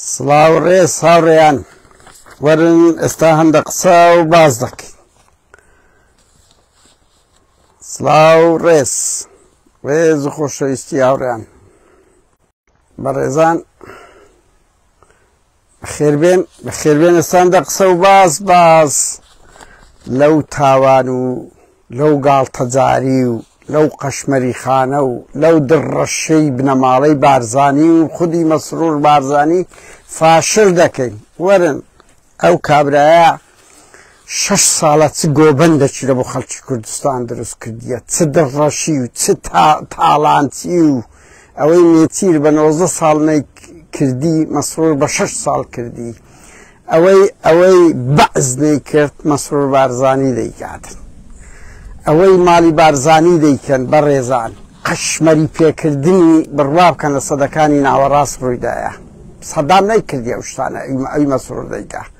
سڵاو ڕێز هاوڕێیان وەرن ئێستا هەندە قسە و باز دەکەین سڵاو ڕێز ڕێز و خۆشەویستی هاوڕێیان بەڕێزان بەخێربێن بەخێربێن ئەستاندە قسە و باز باز لەو تاوان و لەو گاڵتەجاری و لەو قەشمەری خانە و لەو دڕەشەی بنەماڵەی بارزانی و خودی مەسرور بارزانی فاشل دەکەین وەرن ئەو کابرایە شەش ساڵە چ گۆبەندەکی بۆ خەڵکی کوردستان دروست کردیە چ دڕڕەشی و چ تاڵانچی و ئەوەی نێچیر بە نۆزە ساڵ نەی کردی مەسرور بە شەش ساڵ کردی ئەوەی ئەوەی بەعز نەی کرد مەسرور بارزانی دەیکاتن ئەوەی ماڵی بارزانی دەیکەن بە ڕێزان قەشمەری پێکردنی بڕوا بکەن لە سەدەکانی ناوەڕاست ڕوویدایە سەدام نەی کردی ئەو شتانە ئەوی مەسرور دەیکات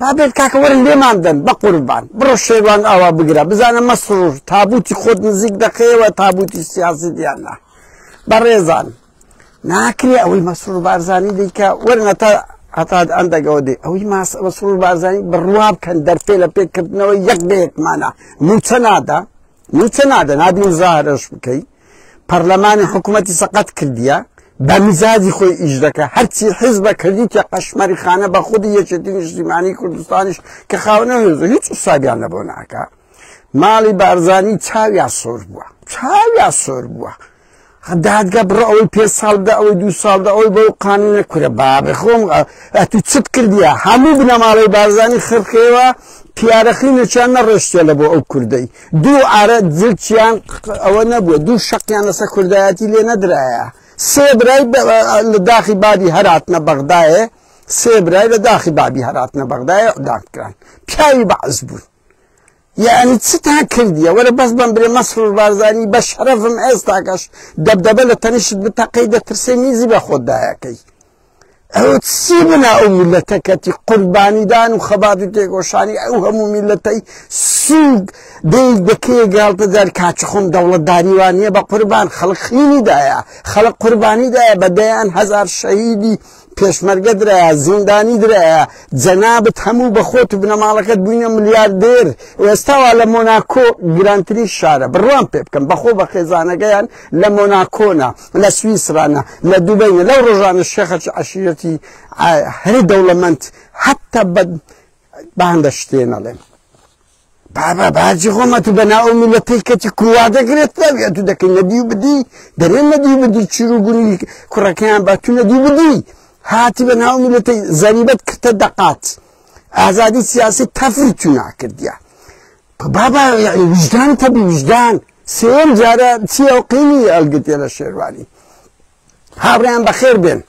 بابێت کاکە وەرن لێمان دەن بە قوربان بڕۆ شێوان ئاوا بگرە بزانە مەسرور تابوتی خۆت نزیک دەخەیەوە تابوتی سیاسی دیاننا بەڕێزان ناکرێ ئەوەی مەسرور بارزانانی دیکە وەرنە تا هەتا ئەندەگەوە دێ ئەوەی ماس مەسرور بارزانانی بڕوا بکەن دەرفێ لە پێکردنەوە یەک بەیەکمانە موچە نادا موچە نادە نابی زارش بکەیت پەرلەمانی حکوومەتی سەقەت کردیە بە مزاجی خۆی ئیش دەکە هەرچی حز بە کردیتە قەشمەری خانە بە خودی یەکێتی نیشتیمانی کوردستانیش کە خاونە هێز هیچ سابیان لەبەوە ناکە ماڵی بارزانی چاویا سۆر بووە چاویا سۆر بووە دادگە بڕە ئەوەی پێ ساڵدا ئەوەی دو ساڵدا ئەوەی بەو قانونە کورە بابێ خۆم ئەتو چت کردیە هەموو بنەماڵەی بارزانانی خرخێوە پیارەخی نەچیان نەڕێشتە لە بۆ ئەو کوردەی دوو عارە جلکیان ئەوە نەبووە دوو شەقیان لەسەر کوردایەتی لێ نەدرایە سێ برای لە داخی بابی هەراتنە بەغدایە سێ برای لە داخی بابی هەراتنە بەغدایە داکران پیاوی بەعز بوون یعنی چتان کردیە وەرە بەس بم برێ مەسرور بارزانی بە شەرەفم ئێستاکەش دەبدەبە لە تەنیشت بتەقەی دەترسێ میزی بە خۆتدایەکەی ئەوە چی بنا ئەو میلەتە کەتی قوربانیدان و خەبات و تێگۆشانی ئەو هەموو میلەتەی سووک دەی دەکێ گاڵتە دار کاچخۆم دەوڵەتداری وانە بە قوربان خەڵک خینیدایە خەڵک قوربانیدایە بە دەیان هزار شەهیدی پێشمەرگە درایە زیندانی درایە جەنابەت هەموو بە خۆت و بنەماڵەکەت بووینە ملیاردێر ئێستاوا لە مۆناکۆ گرانترین شارە بڕوان پێ بکەم بەخۆ بە خێزانەکەیان لە مۆناکۆنا لە سویسرا نە لە دوبەی نە لەو ڕۆژانە شێخەکی عەشیرەتی هەری دەوڵەمەند حتا بە باندە شتێ نەڵێن بابا باجی خۆمە تو بە ناو میلەتەی کەتی کووا دەگرێت ناویە تو دەکەی نەدی و بدی دەرێن نەدی بدی چیر و گونی کوڕەکەیان با تو نەدی بدی هاتی بە ناو میلەتەی زەریبەت کردە دەقات ئازادی سیاسی تەفری تو ناکردە بابە یەعنی ویژدان تەبی ویژدان سێم جارە چیە و قینی ئەلگتێ لە شێروانی هاوڕیان بەخێر بێن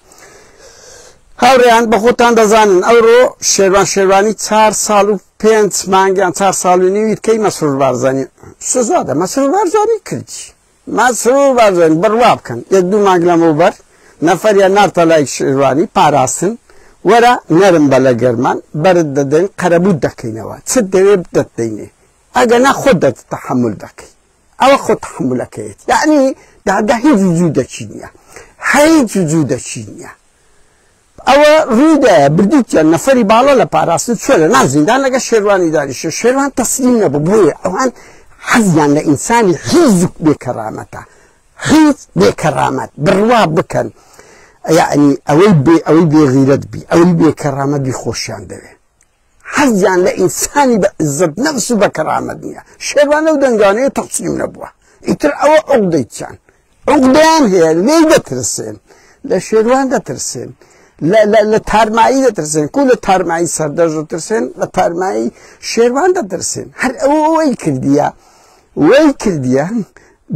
هاوڕیان بە خۆتان دەزانن ئەوڕۆ شێروان شێروانی چهار ساڵ و پێنج مانگیان چهار ساڵ و نیویتکەی مەسرور بارزانانی سزادە مەسرور بارزانانی کردی مەسرور بارزانی، بڕوا بکەن یەک دوو مانگ لەمەوبەر نەفەریان نارتە لای شێروانی پاراستن، وەرە نەرم بە لە گەرمان بەرت دەدەین قەرەبووت دەکەینەوە چت دەوێ بدەت دەینێ ئەگەنا خۆت دەت تەحەمول دەکەی ئەوە خۆ تەحەمولەکەیەتی یەعنی دادە هیچ وجودەکی نیە هیچ وجودەکی نیە. ئەوە ڕوی دا بردوو چەند نەفەری باڵا لە پاراستن چوە لە ناو زیندان لەگە شێروانی دانیشە شێروان تەسلیم نەبوو بۆیە ئەوان حەزیان لە ئینسانی حیز بێکەرامەتە حیز بێکەرامەت بڕوا بکەن یعنی ئەوەی بێ ئەوەی بێغیرەت بی ئەوەی بێکەرامەت بی خۆشیان دەوێت حەزیان لە ئینسانی بە عزەت نەفس و بە کەرامەت نیە شێروانە و دەنگانەیە تەسلیم نەبووە ئیتر ئەوە عوقدەی چیان عوقدەیان هەیە لێی دەترسێن لە شێروان دەترسێن لە تارمایی دەترسێن کو لە تارمایی سەردەژ دەترسێن لە تارمایی شێروان دەترسێن هەر ئەوەی کردیە وەی کردیە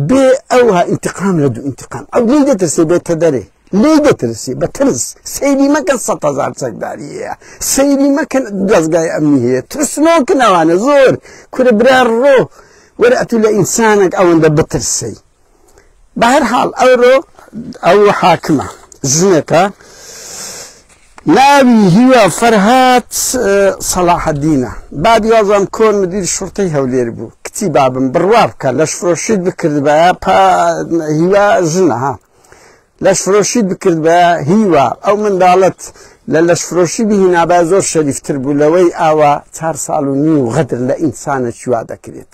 بێ ئەوها ئینتقام لە دوو ئینتقام ئەو لێی دەترسێ بێتە دەرێ لێی دەترسی بە ترس سەیری مەکەن سە هزار چەکداریە سەیری مەکەن دەستگای ئەمنی هەیە ترسنۆکن ئەوانە زۆر کورە برا ڕۆ وەرە ئەتوو لە ئینسانێک ئەوەندە بترسی بە هەر حاڵ ئەوڕۆ ئەو حاکمە ژنێکە ناوی هیوا فەرهاد سەڵاحەدینە، بابی وازام کۆن مدیری شوڕتەی هەولێر بوو، کچی بابم بڕوا بکە لەشفرۆشیت بکردبایە پا هیوا ژنە ها لەشفرۆشیت بکردبایە هیوا ئەو منداڵەت لە لەشفرۆشی بهینابایە زۆر شەریفتر بوو لەوەی ئاوا چار ساڵ و نیو غەدر لە ئینسانەکی وا دەکرێت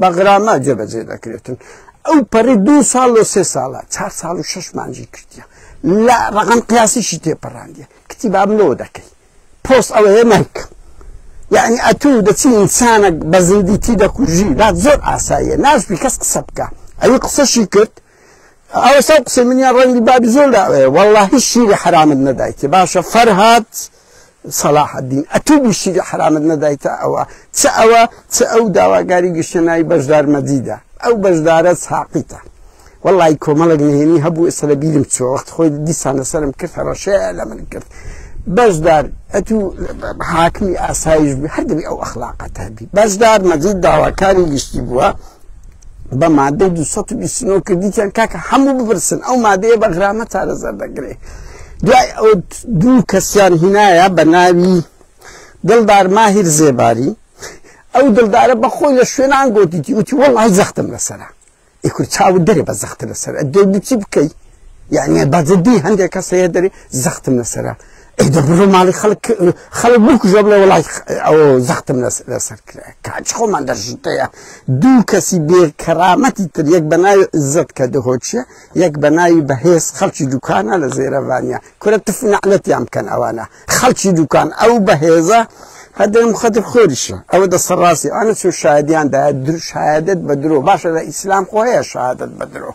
بەغراما جێبەجێ دەکرێتن ئەو پەڕی دو ساڵ لە سێ ساڵە چهار ساڵ و شش مانجی کردە لە ڕقم قیاسیشی تێپەڕاندە کتی بام لۆ دەکەی پۆست ئەوەیە نایکە یعنی ئەتو دەچی ئینسانە بە زیندی تی دەکوژی لا زۆر ئاساییە ناشبی کەس قسە بکە ئەوی قسەشی کرد ئەوسا قسەی منیان ڕەنگی بابی زۆر لاوەیە والله هیچ شیری حرامت نەدایتێ باشە فەرهاد صلاح الدین ئەتوو بی شیری حرامت نەدایتە ئەوە چ ئەوە چ ئەو داواگاری گشتە ناوی بەشدار مەدیدە ئەو بەشدارە ساقیتە والله کۆمەڵک نهێنی هەبوو ئێستا لە بیرم چوە وەخت خۆی دیسانە سەرم کرد هەڕەشەیە لە من کرد بەشدار ئەتوو حاکمی ئاسایش بی هەردەبی ئەو ئەخلاقەت هەبی بەشدار مەجید داواکاری گشتی بووە بە مادەی دو سەد و بیست و نۆ کردیتیان کاکە هەموو بپرسن ئەو مادەیە بە غرامە چارەسەر دەکرێ دوای ئەو دوو کەسیان هینایە بە ناوی دڵدار ماهیر زێباری ئەو دڵدارە بە خۆی لە شوێنان گوتیتی وتی وەڵی زەختم لەسرە ئی کورد چاوت دەرێ بە زەختە لەسەر دەی بچی بکەی یعنی بەجددی هەندێک کەس هەیە دەرێ زەختم لەسرە ئەی دەبڕۆ ماڵی خەڵک خەڵک بکوژە بڵێ وڵای ئەو زەختم لەسەر کرا کاچ خۆمان دەژتەیە دوو کەسی بێ کەرامەتی تر یەک بەناوی عزت کە دهۆچیە یەک بەناوی بەهێز خەڵکی دوکانە لە زێرەوانە کورە تف نەعلەتیان بکەن ئەوانە خەڵکی دوکان ئەو بەهێزە هەدەم خەدر خۆریشە ئەوە دەسە ڕاستی ئەە چۆ شایدیان دا در شایدت بە درۆ باشە لە ئیسلام خۆیە شادت بە درۆ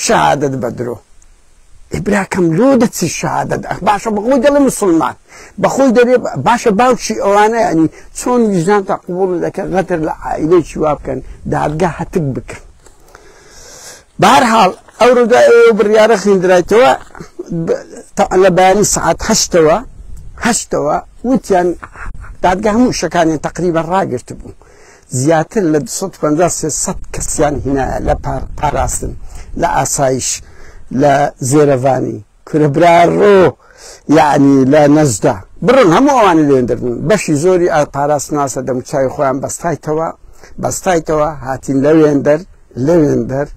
شەهادەت بەدرۆ ئێ براکەم لۆ دەچی شەهادەت ئەخ باشە بەخۆی دەڵێ مسلمان بەخۆی دەرێ باشە باوکی ئەوانە ینی چۆن ویژدان تا قوبوڵ دەکەن غەدر لە عائیلەیەکی وا بکەن دادگا هەتک بکەن بارحاڵ ئەو ڕوودای ئەو بڕیارە خوێندرایتەوە لە بەیانی سعات هەشتەوە هەشتەوە وتیان دادگە هەموو شەکانیان تقریبا ڕاگررت بوو زیاتر لە دوو سەد و پەنجا سێ سەد کەسیان هینایە لە پاراستن لە ئاسایش لە زێرەڤانی کورە برا ڕۆ یعنی لە نەجدە بڕۆن هەموو ئەوانی لێن دەبن بەشی زۆری ئا پاراستناسە دەموچوی خۆیان بەستایتەوە بەستایتەوە هاتین لەوێن دەر لەوێن دەر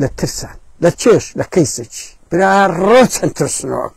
لە ترسان لە چێش لە کەیسێکی برا ڕۆ چەند ترسنۆک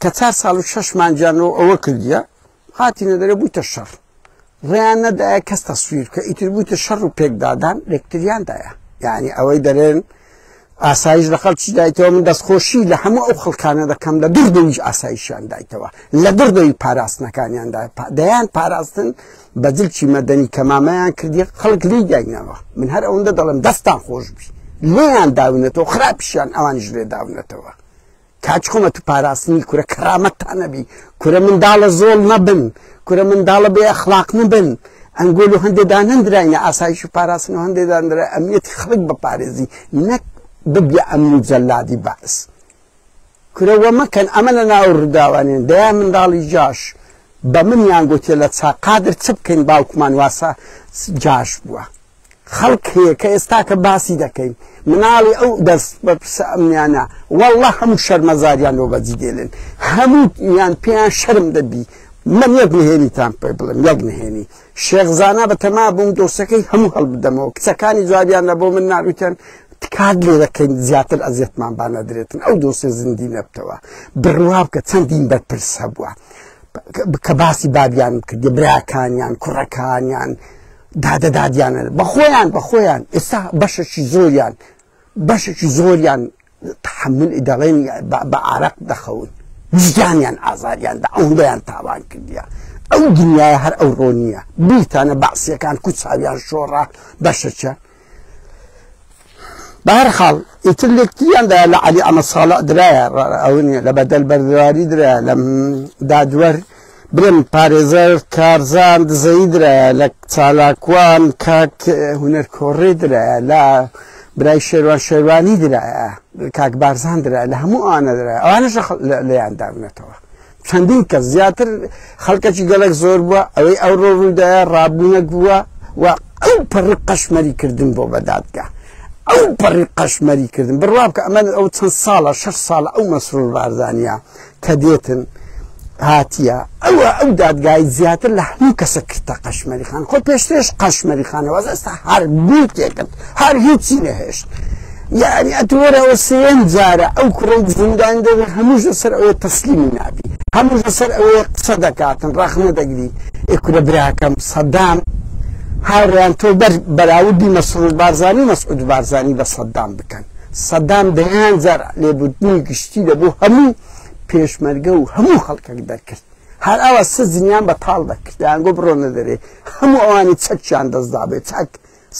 کە چار ساڵ و شەش مانجانەوە ئەوە کردیە هاتینە دەرێ بوویتە شەڕ ڕێیان نەدایە کەس تەسویر کە ئیتر بوویتە شەڕ و پێکدادان لەکتریاندایە یعنی ئەوەی دەرێن ئاسایش لە خەڵکی دایتەوە من دەستخۆشی لە هەموو ئەو خەڵکانە دەکەم لە دردەویش ئاسایشیان دایتەوە لە دردەوی پاراستنەکانیاندا دەیان پاراستن بە جلکی مەدەنی کە مامەیان کردی خەڵک لی داینەوە من هەر ئەوەندە دەڵم دەستان خۆش بی لێیان داونەتەوە خراپیشیان ئەوان ژێ داونەتەوە کاچ حکومەت پاراستنی کورە کەرامەتتان نەبی کورە منداڵە زۆڵ نەبن کورە منداڵە بێ ئەخلاق نەبن ئەنگۆل و هەندێ دانەندراینە ئاسایش و پاراستن و هەندێ دانرا ئەمیەتی خەڵک بەپارێزی نەک ببیە ئەمن و جەلادی بەعس کورەوە مەکەن ئەمە لە ناو ڕداوانێن دەیان منداڵی جاش بە منیان گوتێ لە چاقادر چ بکەین باوکمان واسە جاش بووە خەڵک هەیە کە ئێستا کە باسی دەکەین مناڵی ئەو دەست بە پرسە ئەمنیانە والله هەموو شەرمەزاریان لۆ بەجی دێلێن هەموو یان پێیان شەرم دەبی من یەک نهێنیتان پێ بڵم یەک نهێنی شێخزانە بە تەما بووم دۆسەکەی هەموو هەڵبدەمەوە کچەکانی جوابیان نە بۆ من ناروتێن تکات لێ دەکەین زیاتر ئەزیەتمان بانەدرێتن ئەو دۆسێ زیندی نەبتەوە بڕوا بکە چەندین بەرپرس هەبووە کە باسی بابیان کردی براکانیان کوڕەکانیان دادەدادیانە بە خۆیان بە خۆیان ئێستا بەشەکی زۆریان بەشێکی زۆریان تحمل دەڵێن بە ئارەق دەخەون ویژدانیان ئازاریاندا ئەوندەیان تاوان کردیە ئەو دنیای هەر ئەو ڕۆنیە بیتانە بەعسیەکان کوچاویان شۆڕە بەشەکیان بەهرحاڵ ئیتر لەکتریان دا لە علی ئەمە ساڵە درایە ئەون لە بەدەل بەردەواری درا لە دادوەر برم پارێزەر کارزان دزەی درایە لە چالاکوان کاک هوەر کۆڕێ درایە لە برای شێوان شێوانی درایە کاک بارزان درا لە هەموو ئاە درا ئەوانش لەیان دابنێتەوە چەندین کەس زیاتر خەڵکەکی گەلەک زۆر بووە ئەوەی ئەو ڕۆ ڕوودایە ڕابوونەک بووە و ئەو پەڕی قەشمەری کردن بۆ بەدادگە ئەو پەڕی قەشمەری کردن بڕوا بکە ئەمە ئەو چەند ساڵە شش ساڵە ئەو مەسرور بارزانیا کە دێتن هاتیە ئەوە ئەو دادگای زیاتر لە هەموو کەسە کردە قەشمەری خان خۆ پێشتێش قەشمەری خانەوە ئێستا هەر بوو تێکرد هەر هیچی نەهێشت. یەعنی ئەتو وەرە ئەوە سێیەم جارە ئەو کوڕەی زیندان دەبێ هەمووش لەسەر ئەوەیە تەسلیمی نابی هەمووش لەسەر ئەوەیە قسە دەکاتن ڕەخنە دەگری ئێ کورە براکەم سەدام هاوڕیان تۆ بەر بەراودی مەسرور بارزانی مەسعود بارزانی بە سەدام بکەن سەدام دەیان جار لێبوردنی گشتی دەبوو هەموو پێشمەرگە و هەموو خەڵکەک دەرکرد هەر ئەوە سزنیان بە تاڵ دەکردیان گۆ بڕۆنە دەرێ هەموو ئەوانی چەکیان دەستدا بێت چاک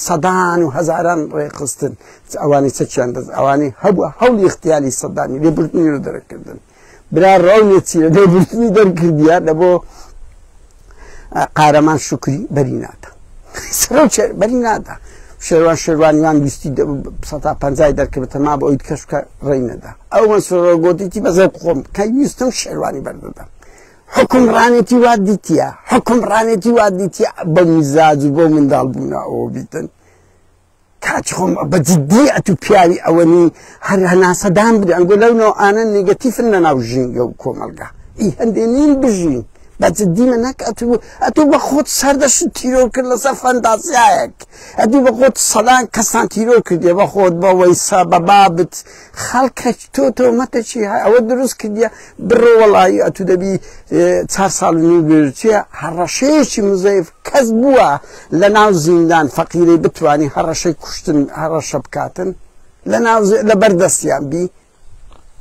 سەدان و هەزاران ڕێکخستن چ ئەوانی چەکیان دەست ئەوانی هەبوو هەوڵی اختیالی سەدانی لێ بردنی رو دەرەکردن برا ڕاونێ چیرە لێ بردنی دەرکردیە لە بۆ قارەمان شکری بەری نادا سەرۆ بەری نادا شێوان شێوانیوان ویستی سەتا پنجای دەرکردتە ما بە ئەویت کەشکە ڕێی نەدا ئەو من سۆرۆگۆتیی بەزە خۆم کە ویستم شێوانی بەردەدەم حوکم ڕانێتی وات دیتیە حوکم ڕانێتی وات دیتیە بە میزاج و بۆ منداڵ بوونا ئەوە بیتن کاچ خۆم بە جدی ئەتو پیاوی ئەوەنی هەر هەناسەدان بدە ئەنگۆ لەو نەوە ئانە نگەتیفن لە ناو ژینگە و کۆمەلگا ئی هەندێ نین بژین بە جدی من نەک ئەتو ئەتو بە خۆت سەردەش تیرۆ کرد لەسەر فەندازیایەک ئەدی بە خۆت سەدان کەسان تیرۆ کردێ بە خۆت بەوەی سا بە بابت خەڵکە تۆ تۆمەتە چی ئەوە دروست کردە بڕۆ وەڵایی ئەتو دەبی چار ساڵ نوگرچیە هەڕەشەیەکی مزەیف کەس بووە لە ناو زیندان فەقیرەی بتانی هەڕەشەی کوشتن هەڕەشە بکاتن لە ناو لە بەردەستیان بی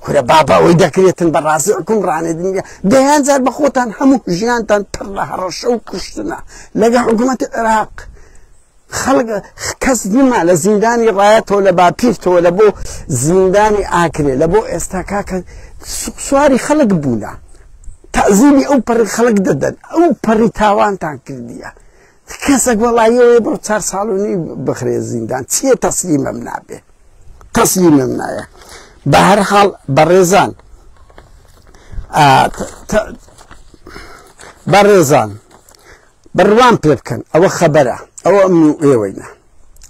کورە بابا ئەوەی دەکرێتن بە ڕازی حکوم ڕانێدنگە دەیان جار بە خۆتان هەموو ژیانتان پڕ لە هەڕەشە و کوشتنە لەگە حکوومەتی عێراق. خەڵک کەس نما لە زیندانی ڕایەتەوە لە باپیرتەوە لە بۆ زیندانی ئاکرێ لە بۆ ئێستا کاکە سواری خەڵک بوونە تازیمی ئەو پەڕی خەڵک دەدەن ئەو پەڕی تاوانتان کردیە کەسەک وەڵایەوە بۆ چار ساڵونی بخرێ زیندان چییە تەسلیمەم نابێ تەسلیمم نایە بە هەر حاڵ بەڕێزان بەڕێزان بڕوام پێ بکەن ئەوە خەبەرە ئەوە ئەمن و ئێوەینە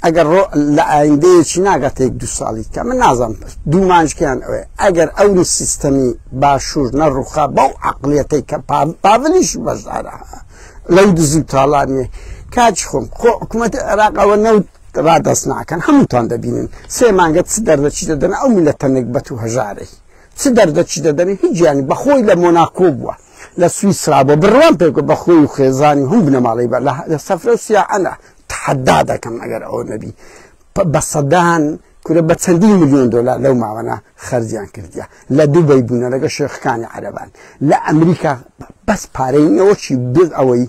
ئەگەر ڕۆ لە ئایندەیەکی ناگات یەک دو ساڵی کە من نازانم دوومانجکەیان ئەوێ ئەگەر ئەو سیستەمی باشوور نەڕوخا بەو عقلەتەی کە پاڤلیش بەشدارە لەو دزی و تاڵانێ کاچ خۆم خۆ حکوومەتی عێراق ئەوە نەوت ڕادەست ناکەن هەمووتان دەبینن سێ مانگە چ دەردەچی دەدەن ئەو میلەتە نەگبەت و هەژارەی چ دەردەچی دەدەن هیچیانی بەخۆی لە مۆناکۆ بووە لە سویسرا بۆ بڕوام پێ بە خۆی و خێزانی هەم بنەماڵی بە لە سەفرە و سیاحەنە تحدا دەکەم ئەگەر ئەو نەبی بە سەدان کورە بە چەندین میلیۆن دلار لەو ماوەە خەرجیان کردیا لە دوبی بوونە لەگە شێخەکانی عەربان لە ئەمریکا بەس پارەینەوەچی بێت ئەوەی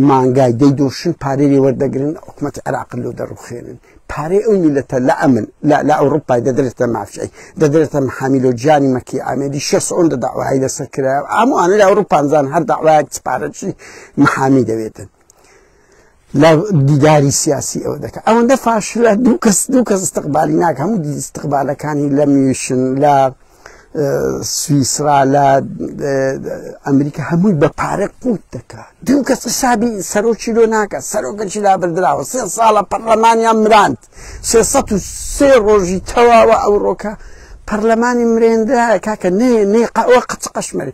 مانگای دەی دۆشن پارەی لێ وەردەگرن حکوومەت عراق لۆ دەڕوخێنن پارەی ئەو میلەتە لە ئەمن لە ئەوروپای دەدرێتە مافشەی دەدرێتە محامیلۆ جانی مەکی ئامێدی شەسۆن دە داوای لەسەر کرا ئاموانە لە ئەوروپانزان هەر داوایەک پارەچی محامی دەوێتن لە دیداری سیاسی ئەوە دەکات ئەوەندە فاشلە دوو کەس دوو کەس استقبالی ناک هەموو دیستقبالەکانی لە میشن لە سویسرا لە ئەمریکا هەمووی بە پارە قوت دەکات دوو کەس حسابی سەرۆکی لۆ ناکە سەرۆکەکی لابردراوە سێ ساڵە پەرلەمانیان مراند سێ سێ ڕۆژی تەواوە ئەوڕۆکە پەرلەمانی مرێندا کاکە نێ نێ قەوە قەچ قەشمەری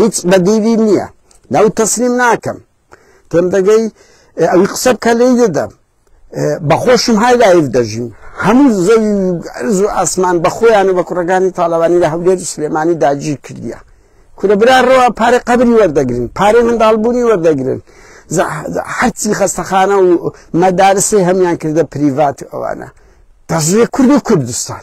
هیچ بەدیلی نییە ناو تەسلیم ناکەم تێم دەگەی ئەوی قسە بکە لێی دەدەم بەخۆشم های لایف دەژیم هەموو زەوی ئەرز و ئاسمان بە خۆیان و بە کوڕەکانی تاالوانی لە هەولێر و سلێمانی داگیر کردیە کورە برا ڕەوە پارە قبلی وەردەگرن پارەی منداڵبوونی وەردەگرن حەچی خەستەخانە و مەدارسی هەمان کردە پریڤات ئەوانە دەژێ کورد و کوردستان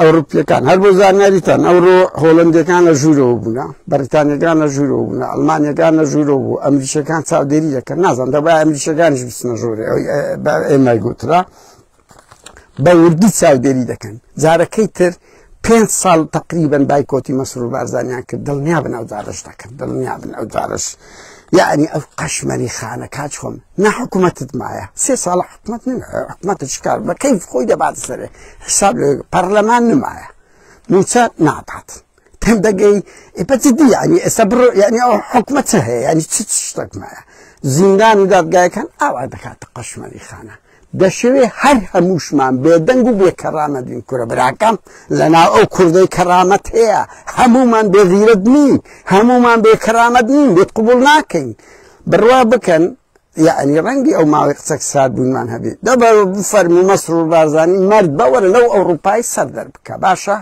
ئەوڕپیەکان هەر بۆ زانیاریتان ئەوڕۆ هۆڵندەکان لە ژوورەوە بووە بەریتانیەکان لە ژوورەوە بوون ئەلمانیەکان لە ژوورەوە بوو ئەمریشەکان چاودێری دەکەن نازان دەبا ئەمریشەکانش بچنە ژوورێ ئێمای گوترا بە وردی چاودێری دەکەن جارەکەی تر پێ ساڵ تقریبن بایکۆتی مەسرور بارزانیان کرد دڵنیا بن ئەو جارش دەکرد دڵنیا بن ئەو جارش یعنی ئەو قەشمەری خانە کاچ خۆم نە حکوومەتت مایە سێ ساڵ حکومت حکومەتە شکار بە کەیف خۆی دەبات سەرێ حساب لە پەرلەمان نمایە موچە نادات تەم دەگەی ئپەتیدی ینی ئێستا بڕۆ ینی ئەو حکومەتە هەیە ینی چ شتێک مایە زیندان و دادگایەکان ئاوا دەکاتە قەشمەری خانە دەشەوێ هەر هەمووشمان بێدەنگ و بێ کەرامەت بین کورە براکەم لەناو ئەو کوردەی کەرامەت هەیە هەموومان بێ غیرەت نین هەموومان بێ کەرامەت نین بێت قوبول ناکەین بڕوا بکەن یعنی ڕەنگی ئەو ماوەی قسەک سات بوونمان هەبێت دەبەر بفەرمی مەسرور بارزانی مرد بەوەرە لەو ئەوروپای سەر دەر بکە باشە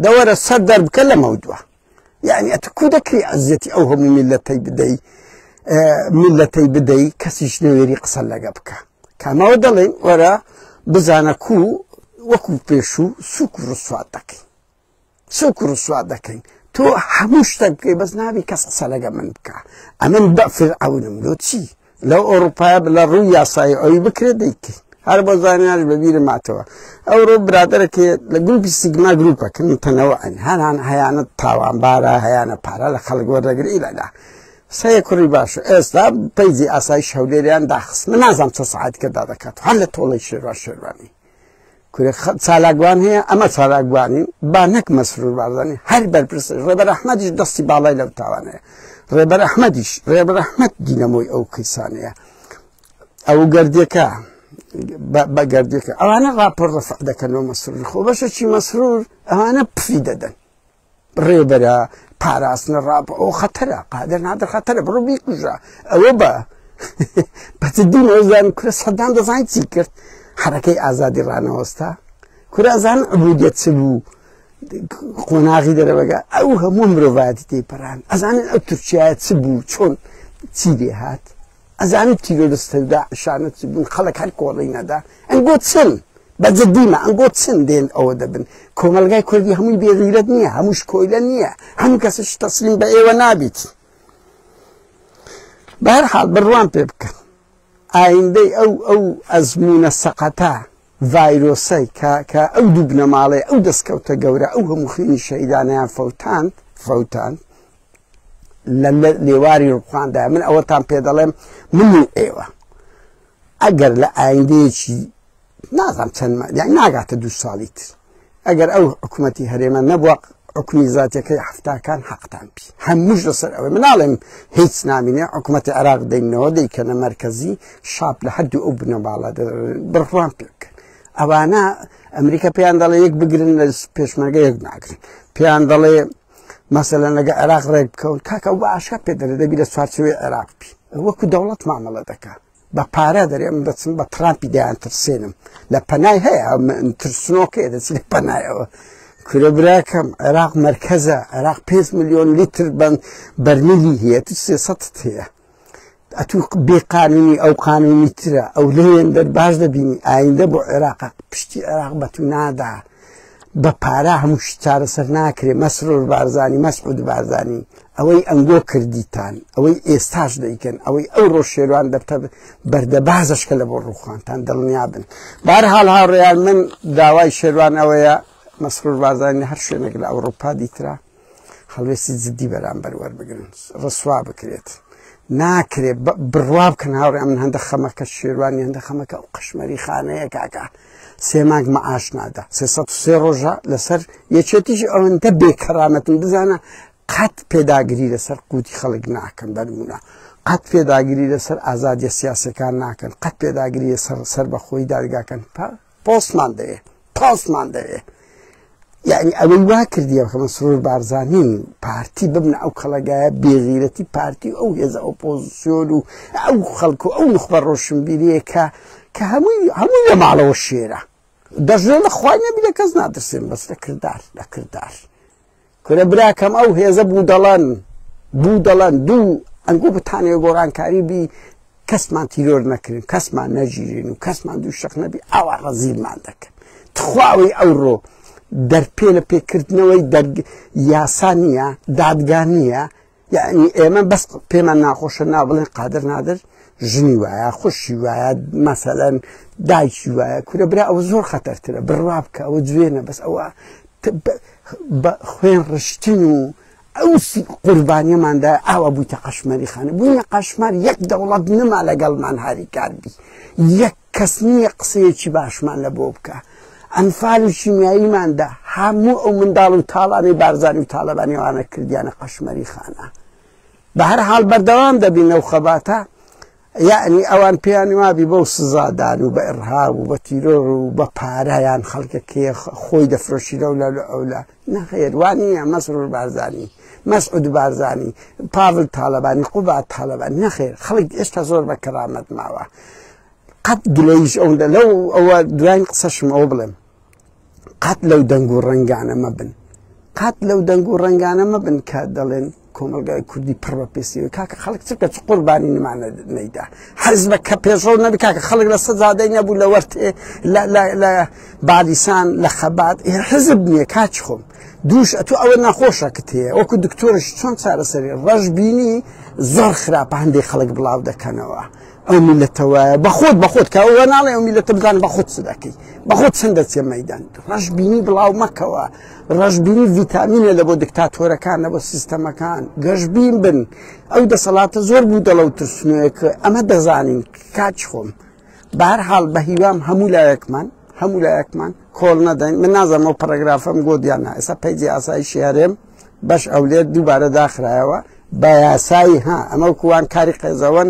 دەوەرە سەر دەربکە لەمەو دووە یعنی ئەت کو دەکری عزیەتی ئەو هەموو میلەتەی بدەی میلەتەی بدەی کەسیش نەوێری قسە لەگە بکە کامەوە دەڵێن وەرە بزانە کو وەکو پێشوو سوک و ڕسوات دەکەین سوک و ڕسوات دەکەین تۆ هەموو شتە بکەی بەس نابی کەس قسە لەگە من بکە ئەمن بەفر ئەونم لۆ چی لە ئۆروپایە بلە ڕووی یاسایی ئەوی بکرێ دەیکەین هەر بۆ زانیاش بەبیرە ماتەوە ئەوڕۆ برادرەکێ لە گروپی سیگما گروپەکەن تەنەوە ئەن هەران هەیانە تاوانبارە هەیانە پارە لە خەڵک وەردەگر ئیلەدا سەیە کوڕی باش ئێستا پەیزی ئاسای شەولێریان داخست من نازانام چە سعات کەدا دەکات هەر لە تۆڵی شێروا شێروانی کورە چالاکوان هەیە ئەمە چالاکوانین با نەک مەسرور بارزانانی هەر بەرپرسی ڕێبەر ئەحمەدیش دەستی باڵای لەو تاوانەیە ڕێبەر ئەحمەدیش ڕێبەر ئەحمەد دینەمۆی ئەو کەیسانەیە ئەو گردێکە بە گردێکە ئەوانە ڕاپۆر ڕفع دەکەنەوە مەسرور خۆ بەشەکی مەسرور ئەوانە پفی دەدەن ڕێبەرە پاراستنە ڕاپ ئەو خەتەرە قادر نادر خەتەرە بڕۆ بیکوژە ئەوە بە بەجددی نەوەزان کورە سەدان دەزانین چی کرد حرەکەی ئازادی ڕانەوەستا کورازان عبودیت چ بوو قۆناغی دەرەبگە ئەو هەموو مرۆڤایەتی تێپەران ئەزانن ئەو تورکایە چ بوو چۆن چی دێهات ئەزانیت تیرۆرستە داعشانە چ بوون خەڵک هەر کۆڵی نەدا ئەنگۆ چن بە جدیمە ئەنگۆ چن دێن ئەوە دەبن کۆمەلگای کوردی هەمووی بێغیرەت نییە هەمووش کۆیلە نییە هەموو کەسش تەسلیم بە ئێوە نابیت بەر حاڵ بڕوان پێ بکەن ئایندەی ئەو ئەو ئەزمونە سەقەتە ڤایرۆسەی کە کە ئەو دوو بنەماڵێ ئەو دەستکەوتە گەورە ئەو هەموو خوێنی شەیدانیان فەوتاند فەوتاند لە لێواری ڕوخاندا من ئەوەتان پێ دەڵێم من و ئێوە ئەگەر لە ئایندەیەکی نازانم چەند یعنی ناگاتە دوو ساڵی تر ئەگەر ئەو حکوومەتتی هەرێمە نەبووە حکومی زاتەکەی هەفتاکان حەقتان پی هەمووش لەسەر ئەوەی مناڵێم هیچ نامینێ حکوومەتتی عراق دەینەوە دەیکەنە مرکزی شاپ لە هەردوو ئەو بنەباڵە بڕوان پێکەن ئەوانە ئەمریکا پێیان دەڵێ یەک بگرن لە پێشمەرگە یەک ناگرن پێیان دەڵێ مەسەلەن لەگە عێراق ڕێک بکەون کاکە بە ئاشکا پێ دەرێ دەبی لە چوارچوی عێراق بی وەکو دەوڵەت مامەڵە دەکا بە پارە دەرێ من دەچم بە تراپی دەیان ترسێنم لە پەنای هەیە ترسنۆکەیە دەچی لە پەنایەوە کورە براکەم عێراق مرکزە عێراق 5 میلیۆن لیتر بن بەرمیلی هەیە 300 هەیە ئەتو بێ قانونی ئەو قانونی ترە ئەو لێن دەر باش دەبینی ئایندە بۆ عێراق پشتی عێراق بە تو نادا بە پارە هەموو شتارە سەر ناکرێ مەسرۆر بارزانانی مەسعود بارزانانی ئەوەی ئەنگۆ کردیتان ئەوەی ئێستاش دەیکەن ئەوەی ئەو ڕۆژشێوان دەبتە بەردە بازشکە لە بۆ ڕووخانتان دڵنیا بن بار حال هاوڕێیان من داوای شێوان ئەوەیە مەسرور بازانانی هەر شوێنێک لە ئەوروپا دیترا هەڵوێستی جددی بەرامبەر وەربگرن ڕسوا بکرێت ناکرێت بڕوا بکەن هاوڕێ من هەندە خەمەکە شێوانی هەندە خەمەکە و قشمەری خانەیە کاکە سێ مانگ مەعاش نادا سێ سێ ڕۆژە لەسەر یەکێتیش ئەوەندە بێکەرامەتن بزانە قەت پێداگری لەسەر قوتی خەڵک ناکەن بەرمونە قەت پێداگری لەسەر ئازادیە سیاسەکان ناکەن قەت پێداگری سەر سەر بەخۆی دادگاکەن تا پۆستمان دەوێ پۆستمان دەوێ یعنی ئەوەی وا کردیە کە مسرور بارزانین پارتی ببنە ئەو کەڵەگایە بێغیرەتی پارتی ئەو هێزە ئۆپۆزیسیۆن و ئەو خەڵکو ئەو نخبە ڕۆشنبیریە کە کە هەمووی هەمووی لە ماڵەوە شێرە دەژێ لە خوای نەبی لە کەس نادرسێن بەس لە کردار لە کردار کورە براکەم ئەو هێزە بودەڵەن بودەڵەن دوو ئەنگۆ بتانێ گۆڕانکاری بی کەسمان تیرۆر نەکرین کەسمان نەگیرین و کەسمان دوو شەق نەبی ئاوا ڕەزیلمان دەکەن تخواوەی ئەوڕۆ دەرپێ لە پێکردنەوەی یاسا نییە دادگا نییە یعنی ئێمە بەس پێمان ناخۆشە نا بڵێن قادر نادر ژنی وایە خوشی وایە مەسەەن دایکی وایە کورە برا ئەوە زۆر خەتەرترە بڕوا بکە ئەوە جوێنە بەس ئەوە خوێن ڕشتن و ئەو قوربانیەماندا ئاوا بوویتە قەشمەری خانە بووینە قەشمار یەک دەوڵەت نما لەگەڵمان هاریکاربی یەک کەس نییە قسەیەکی باشمان لە بۆ بکا ئەنفال و شیمیاییماندا هەموو ئەو منداڵ و تاڵانەی بارزانی و تاالبانیوانە کردیانە قەشمەری خانە بە هەر حال بەردەوام دەبینە و خەباتە یعنی ئەوان پێیان وابی بەو سزادان و بە ئڕهاب و بە تیرۆر و بە پارەیان خەڵکەکەی خۆی دەفرۆشیرە و لە ئەولا نەخێر وانیە مەسرور بارزانی مەسعود بارزانی پاڤل تاالبانی قوبات تاالبان نەخێر خەڵک ئێستا زۆر بە کەرامەت ماوە قەت گلەیش ئەوەندە لەو ئەوە دوایین قسەشم ئەو بڵێم قەت لەو دەنگ و ڕنگانە مەبن قەت لەو دەنگ و ڕنگانە مەبن کە دەڵێن کۆمەلگای کوردی پڕ بە پێسیوە کاکە خەڵک چکە چ قوربانی نمانە نەیدا حەزبە کە پێشڕەو نەبی کاکە خەڵک لە سەزادەی نەبوو لە وەرتێ لە بالیسان لە خەبات حزب نییە کاچ خۆم دووش ئەتو ئەوە ناخۆشە کە تێە وەکو دکتۆرش چۆن چارەسەری ڕەش بینی زۆر خراپ هەندێک خەڵک بڵاو دەکەنەوە. ئەو میلەتەوە بەخۆت بەخۆت کە ئەوە ناڵێ ئەو میلەتە بزان بەخۆت چ دەکەی بەخۆت چەند دەچێ مەدان ڕەش بینی بڵاو مەکەوە ڕەشبینی ڤیتامینە لە بۆ دکتاتۆرەکان نە بۆ سیستەمەکان گەشببین بن ئەو دەسەڵاتە زۆر بوو دەڵە و ترسنوێک ئەمە دەزانین کاچ خۆم بار حاڵ بە هیوام هەموو لایەکمان هەموو لایەکمان کۆڵ نەدەین من نازانم و پەرگرافم گۆدیان ئێستا پەیجی ئاسایشی هەرێم بەش ئەولێت دووبارە داخرایەوە بە یاسایی ها ئەمە کووان کاری قێزەوەن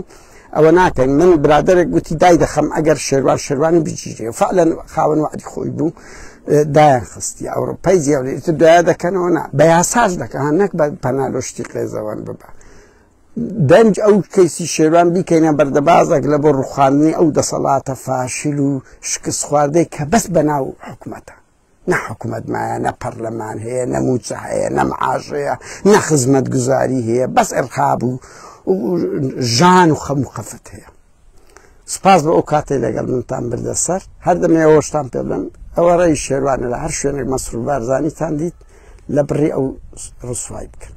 ئەوە ناکەین من برادێک گوتی دای دەخەم ئەگەر شێوان شێوانی بگیری و فعلەن خاوەن وعدی خۆی بوو دایان خستی ئەوروپای زیێت دوای دەکەنەوە نا بە یاساش دەکەن نەک بە پەنالۆشتی قێزەوەن ببە دەنج ئەو کەیسی شێوان بیکەینە بەردەبازێک لە بۆ ڕوخاندنی ئەو دەسەڵاتە فاشل و شکست خواردەی کە بەس بەناو حکوومەتە نە حکومت مایە نە پەرلەمان هەیە نە موچە هەیە نە معاش هەیە نە خزمەت گوزاری هەیە بەس ئەرخاب و ژان و خەم و خەفت هەیە سپاس بە ئەو کاتێ لەگەڵ منتان بردە سەر هەردەمێەوەشتان پێ بڵم ئەوە ڕێی شێوانە لە هەر شوێنێک مەسرور بارزانانیتان دیت لە بڕی ئەو ڕسوای بکەن